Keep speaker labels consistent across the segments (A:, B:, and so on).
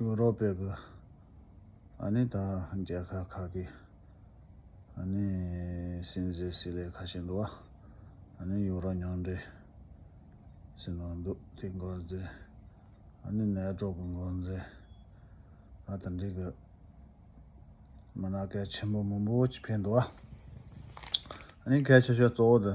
A: ཡུ་རོབ་པའི་གི་ཨ་ནི་ད་རྒྱལ་ཁ་ཁག་གི་ཨ་ནི་སྲིན་བཟེ་སྲི་ལེ་ཁ་ཤས་འདུག་བ་ཨ་ནི་ཡུ་རོ་ཉང་འདྲེ་སྲི་ནང་འདུག་དེ་འགོ་འཛེ་ཨ་ནི་ནད་དྲོག་གི་འགོ་འཛེ་ཨ་ད་འདྲེ་གི་མ་ན་སྐལ་ཆེན་པོ་མོན་པོ་ཅིག་ཕེབས་འདུག་བ་ཨ་ནི་སྐལ་ཆེ་ཤོས་གཙོ་བོ་དེ།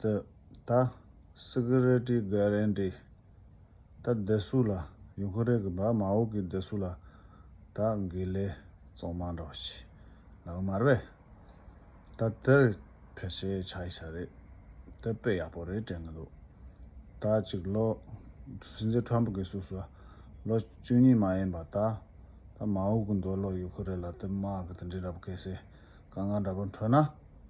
A: ད། Security Guarantee། ད་བདེ་སུ་ལ། ཡུ་ཁུ་རེ་གི་བ་མ་ཨོ་ཀི་བདེ་སུ་ལ། ད་འགི་ལེ་ཙོང་མ་འདྲོ་བ་ཆི། ལ་གི་མར་བེ། ད་དེ་ཕེར་ཤེ་ཆ་ཡི་ས་རེད། ད་དཔེ་ཡག་པོ་རེད་དྲན་གི་འདུག། ད་གཅིག་ལོ། སྲིད་འཛིན་ཁྲོམ་པུ་གི་སུ་སུ། ལོ་བཅུ་གཉིས་མ་ཡིན་པ་ད། ད་མ་ཨོ་ཀི་འདོད་ལོ་ཡུ་ཁུ་རེ་ལ་དེ་མ་ཨ་ཀི་དེ་འདྲི་འདྲ་པོ་ཀེ་སེ། ཀ་ང་འདྲ་པོ་འཕྲོད་ན།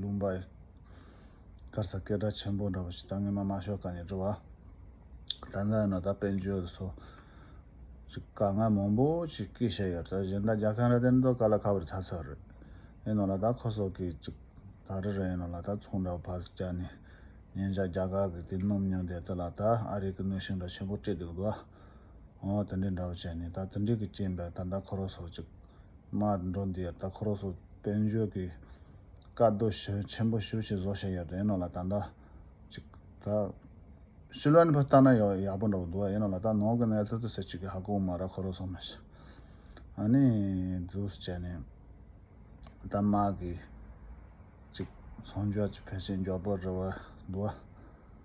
A: ལུང་པ། སྐར་ཚ་སྐད་སྒྲ་ཆེན་པོ་འདྲ་བོ་ཞིག་ད་ངེས་མ་མ་ཤོག་ཀ་ནས་འབྲི་བ། ད་ལྟ་ཡོང་ན་ད་དཔལ་འབྱོར་དུ་སོ། ཅི་དཀའ་ངལ་མང་པོ་ཞིག་སྐྱེས་བཞག་ཡོད་ད་གཞན་ད་རྒྱ་ཁན་ར་དན་ཏོ་ཀ་ལ་ཁ་བར་ཚ་ཚ་རེད། ཡིན་ནོ་ལ་ད་ཁོ་སོག་གིས་ཅིག་ད་རི་ར་ཡིན་ནོ་ལ་ད་ཚོང་འདྲ་བོ་ཕར་ཟིག་བསྐྱལ་ནས། ཉན་བཞག་རྒྱ་གར་གི་དེ་སྣུམ་ཉོ་འདས་ད་ལ་ད་ཨ་རིག་གི་གནོད་ཤིང་འདྲ་ཆེན་པོ་སྤྲད་འདུག་ལ། ཨོ་དེ་འདྲའི་འདྲ་བོ་བྱས་ནས་ད་དེ་འདྲའི་གི་རྐྱེན་པས་ད་ད་ཁོ་རོ་སོ་ཅིག་མ་འགྲོ་འདི་ཡར་ད་ཁོ་རོ་སོ་དཔལ་འབྱོར་གི་བཀའ་སྡོད་ཞུ་ཆེན་པོ་ཞུ་ཞེས་བཟོ་བྱས་ཡོད་དེ་ཡིན་ནོ་ལ་ད་འདྲ་ཅིག་ད་ཤུལ་བན་བུ་ལྟ་ན་ཡག་ཡག་པོ་འདྲ་བོ་འདུག་ཡིན་ནོ་ལ་ད་ནོར་གི་གནས་ཚུལ་དུ་ཟེར་ཅིག་གི་ཧ་གོ་མ་ར་ཁོ་རོ་སོ་མི་ཤི་ཨ་ནི་ཛུས་བྱས་ནས་ད་མ་གི་ཅིག་ཚོང་འཇོག་ཅིག་ཕལ་ཆེར་མགྱོགས་པོ་རི་བ་འདུག།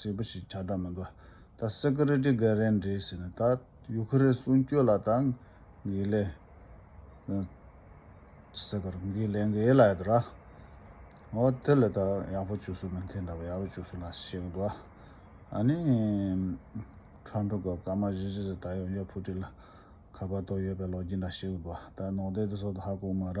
A: ཟེར་བ་ཞིག་བྱ་འདྲ་མི་འདུག་ད Security Guardian རེད་ཟེར་ནས་ད Ukraine གསུང་བསྐྱོད་ལ་ད་འགེལ་ལས་ཟེར་གར་འགེལ་ལས་འགེལ་ལ་ཡོད་ར་ཨོ་དེ་ལས་ད་ཡག་པོ་བྱུགས་སོང་ན་དེ་འདྲ་བ་ཡག་པོ་བྱུགས་སོང་ན་ཞེས་གི་འདུག་ཨ་ནི Trump གི་སྐར་མ་བཞི་བཞི་ཟེར་ད་ཡོང་རྒྱུ Putin ལ་ཁ་པར་ཐོག་ཡོད་པའི་ལོ་རྒྱུས་འདྲ་ཞེས་གི་འདུག་ད་ནོག་ལྡེབ་དེ་སོགས་ད་ཧ་གོ་མ་ར།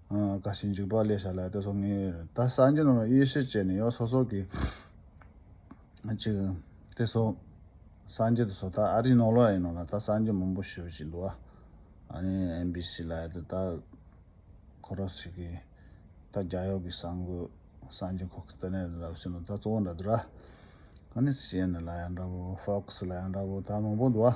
A: དགའ་ཞིང་འཇིགས་པ་བསླད་བྱ་ལ་དེ་སོགས་ངེས། ད་སངས་རྒྱས་རྣམས་ལ་ཡེ་ཤེས་སྐྱེས་ནས་ཡང་སོ་སོར་གྱིས། ཅིག། དེ་སོགས་སངས་རྒྱས་དུ་སོགས་ད་ཨ་རིའི་ནོར་ལོག་ཡིན་ནོ་ལ་ད་སངས་རྒྱས་མང་པོ་ཞེས་པ་ཞིག་འདུག་ཨ། ནི་ཨེམ་བྷི་སི་ལ་ཡོད་དེ་ད། ཁོ་རང་ཚོས་ཀྱིས། ད་རྒྱ་གཡོག་གིས་སངས་དགོས་སངས་རྒྱས་ཁོག་གི་ལྟ་གནས་རེད་ར་བ་བྱས་ནོ་ད་གཙོ་བོ་འདྲ་འདུག་ར། ཨ་ནི་སི་ཨེན་ཨེན་ལ་ཡང་འདྲ་པོ་ཧྥོ་ཁ་སི་ལ་ཡང་འདྲ་པོ་ད་མང་པོ་འདུག་ཨ།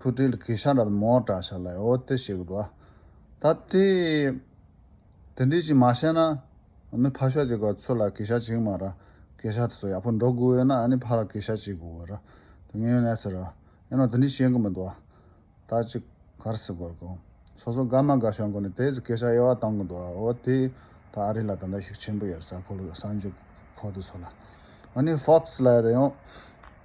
A: ཕུ་ཏིལ་གི་ཤ་འདྲ་དང་མོ་འདྲ་ཤ་ལ་ཨོ་ཏི་ཞེས་གོ། ད་དེ། དེ་འདྲས་ཅིག་མ་བཤད་ན། མི་ཕ་ཤོག་དེ་ག་ཚོད་ལ་གི་ཤ་ཅིག་མ་ར། གི་ཤ་དེ་ཚོ་ཡག་པོ་འགྲོ་དགོས་ཡོད་ན་ཨ་ནི་ཕ་ལ་གི་ཤ་ཅིག་གོ་ར། དེ་ངས་ནས་ཚེ་ར། ཡིན་ནོ་དེ་འདྲས་བཤད་གི་མི་འདུག་ཨ། ད་ཅི། གར་སི་གོར་གོ། སོ་སོ་དགའ་མ་དགའ་ཤོག་གོ་ནས་དེ་ཚོ་གི་ཤ་དབྱེ་བ་བཏང་གི་འདུག་ཨ་ཨོ་ཏི། ད་ཨ་རི་ལ་དེ་འདྲ་ཞིག་ཆེན་པོ་ཡོད་རེད་ས་ཁོ་ལ་ས་འཇུག་ཁོ་དེ་ཚོ་ལ། ཨ་ནི་ཧྥོག་སི་ལ་ཡོད་རེད་ཡོང།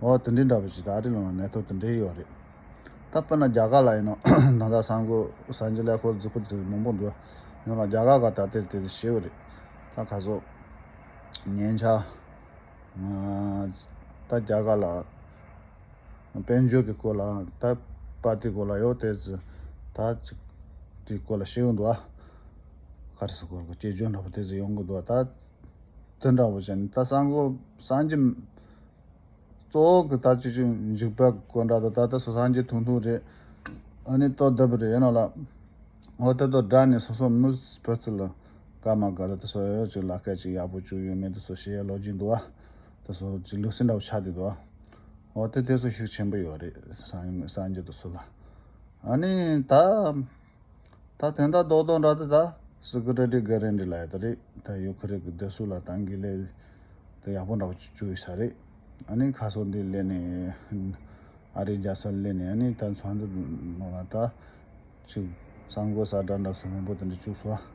A: འོ་དེ་འདྲའི་འདྲ་པོ་ཞིག་ད་ཨ་རི་ལོག་ན་གནས་ཐོག་དེ་འདྲའི་ཡོད་རེད། ད་དཔེར་ན་རྒྱ་གར་ལ་ཡིན་ནོ། ད་ལྟ་སང་གོ་སང་གི་ཀླད་ཀོར་རྫིག་པོ་དེ་མང་པོ་འདུག་ཡོང་ལ་རྒྱ་གར་ག་ད་ལྟའི་དེ་དེ་ཤེས་གི་རེད། ད་ག་ཟོ། ཉན་ཆ། ད་རྒྱ་གར་ལ་དཔལ་འབྱོར་གི་སྐོར་ལ་ད་པ་ཏི་གོ་ལ་ཡོད་དེ་ད་ཅིག་དེའི་སྐོར་ལ་ཤེས་གི་འདུག་ཨ། ག་རེ་ཟེར་གོ་དགོ་སྐྱེས་སྦྱོར་འདྲ་པོ་དེ་ཟེར་ཡོང་གི་འདུག་ད་དེ་འདྲ་པོ་བྱས་ནས་ད་སང་གོ་སང་གི། གཙོ་བོ་གི་ད་ཅི་ཅིག་འཇིགས་པའི་དགོད་འདྲ་དོ་ད་ལྟ་སོ་སངས་རྒྱས་ཐུང་ཐུང་རེད་ཨ་ནི་ལྟོ་ལྡབ་རེད་ཡིན་ནོ་ལ་འོ་དེ་ལྟོ་འདྲ་ནི་སོ་སོ་མི་བུ་ཚི་ལ་དགའ་མ་དགའ་རེད་དེ་སོ་ཡོད་ཡོད་ཅིག་ལ་སྐད་ཅིག་ཡག་པོ་བཅུག་ཡོད་མེད་དེ་སོ་ཤེས་ཡ་ལོ་རྒྱུས་འདུག་ཨ་དེ་སོ་ཅིག་ལུགས་སྲིད་འདྲ་བོ་ཆགས་དུས་འདུག་ཨ་འོ་དེ་དེ་སོ་ཤུགས་ཆེན་པོ་ཡོད་རེད་སངས་རྒྱས་དེ་སོ་ལ་ཨ་ནི་ད། ད་དེ་འདྲ་རྡོག་རྡོག་འདྲ་དེ་ད་སི་ཀི་ར་ཏི་ག་རན་དྲི་ལ་ཡོད་ད་རེད་ད་ཡོ་ཁི་རེ་གི་དེ་སུ་ལ་ཏང་གི་ལས་དེ་ཡག་པོ་འདྲ་བོ་ཅིག་བཅུག་ཡོད་ས་རེད་ཨ་ནི་ཁ་སོ་འདི་ལེན་ནས་ཨ་རི་རྒྱ་སར་ལེན་ནས་ཨ་ནི་ད་མཚོ་འདི་ནང་ལ་ད་ཅིག་གསར་འགོད་ས་འདྲ་འདྲ་སུ་མང་པོ་དེ་འདྲ་བཅུག་སོ།